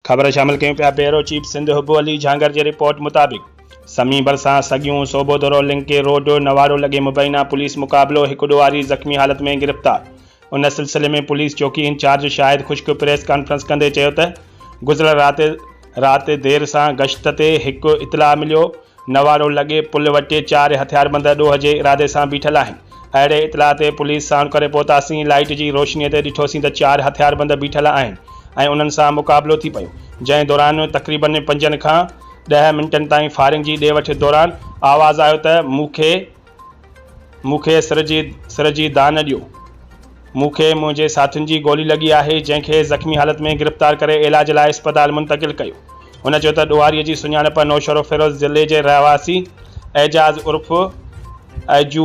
خبر شامل ڪيون پيا بيورو چيف سنڌ حب علي جهانگر جي رپورٽ مطابق سمي ڀرسان سڳيون صوبودورو لنڪي روڊ نواڙو لڳي مبينا پوليس مقابلو هڪ ڏوهاري زخمي حالت ۾ گرفتار ان سلسلي ۾ پوليس چوڪي incharge Shahid Khushk press conference ڪندي چيو ته گذريل رات رات دير سان گشت تي هڪ اطلاع مليو نوارو لڳي پل وٽ چار هٿياربند ڏوهه جي ارادي سان بيٺل آهن. اهڙي اطلاع تي پوليس ساڻ ڪري پهتاسين، لائيٽ جي روشنيء تي ڏٺوسين ته چار هٿياربند بيٺل آهن ۽ انهن سان مقابلو ٿي پيو، جنهن دوران تقريبن پنجن کان ڏهه منٽن تائين فائرنگ جي ڏي وٺ دوران آواز آيو ته مون کي مون کي سر جي سر جي دانهن نه ڏيو. مون کي منهنجي ساٿين جي گولي لڳي آهي، جنهن کي زخمي حالت ۾ گرفتار ڪري علاج لاء اسپتال منتقل ڪيو. هن چيو ته ڏوهاري جي سڃاڻپ نوشهروفيروز ضلعي جي رهواسي اعجاز عرف ايجو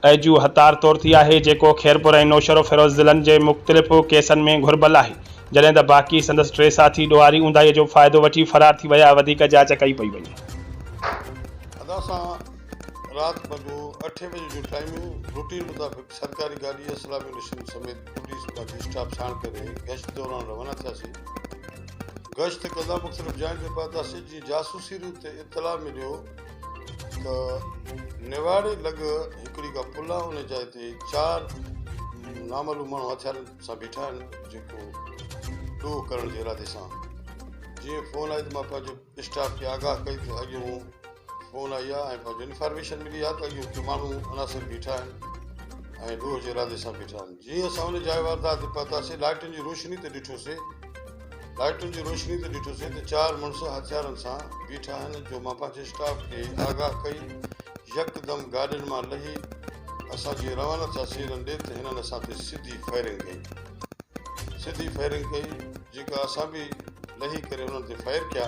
ايجو هتار طور ٿي آهي، جيڪو خيرپور ۽ نوشهروفيروز ضلعن جي مختلف ڪيسن ۾ گهربل آهي، جڏهن ته باقي سندس ٽي ساٿي ڏوهاري اونداهيء جو فائدو وٺي فرار ٿي ويا، وڌيڪ جاچ ڪئي پئي وڃي. رات وڳو اٺين بجي جو ٽائيم هو. روٽين مطابق سرڪاري گاڏي اسلامي مشن سميت پوليس باقي اسٽاف ساڻ ڪري گشت دوران روانا ٿياسين. گشت ڪندا مختلف جاين تي پهتاسين جيئن جاسوسي روٽ تي اطلاع مليو ته نواڙي لڳ هڪڙي ڪا پل آهي ان جاء تي چار نامعلوم ماڻهو هٿيارن سان بيٺا آهن جيڪو ڏوهه ڪرڻ جي ارادي سان جيئن فون آئي ته مان پنهنجي اسٽاف کي آگاهه ڪئي ته اڄ هو فون آئي آهي ۽ پنهنجي انفارميشن ملي آهي ته اڄ اتي ماڻهو عناصر بيٺا آهن ۽ ڏوهه جي ارادي سان بيٺا آهن جيئن اسان ان جاء واردات تي پهتاسين لائٽن جي روشني تي ڏٺوسين لائٽن جي روشني تي ڏٺوسين ته چار مڙس هٿيارن سان بيٺا آهن جو مان پنهنجي اسٽاف کي آگاهه ڪئي يڪدم گاڏين مان لهي اسان جيئن روانا ٿياسين هنن ڏي ته هنن اسان تي سڌي فائرنگ ڪئي سڌي فائرنگ ڪئي جيڪا اسان به لهي ڪري انهن تي فائر ڪيا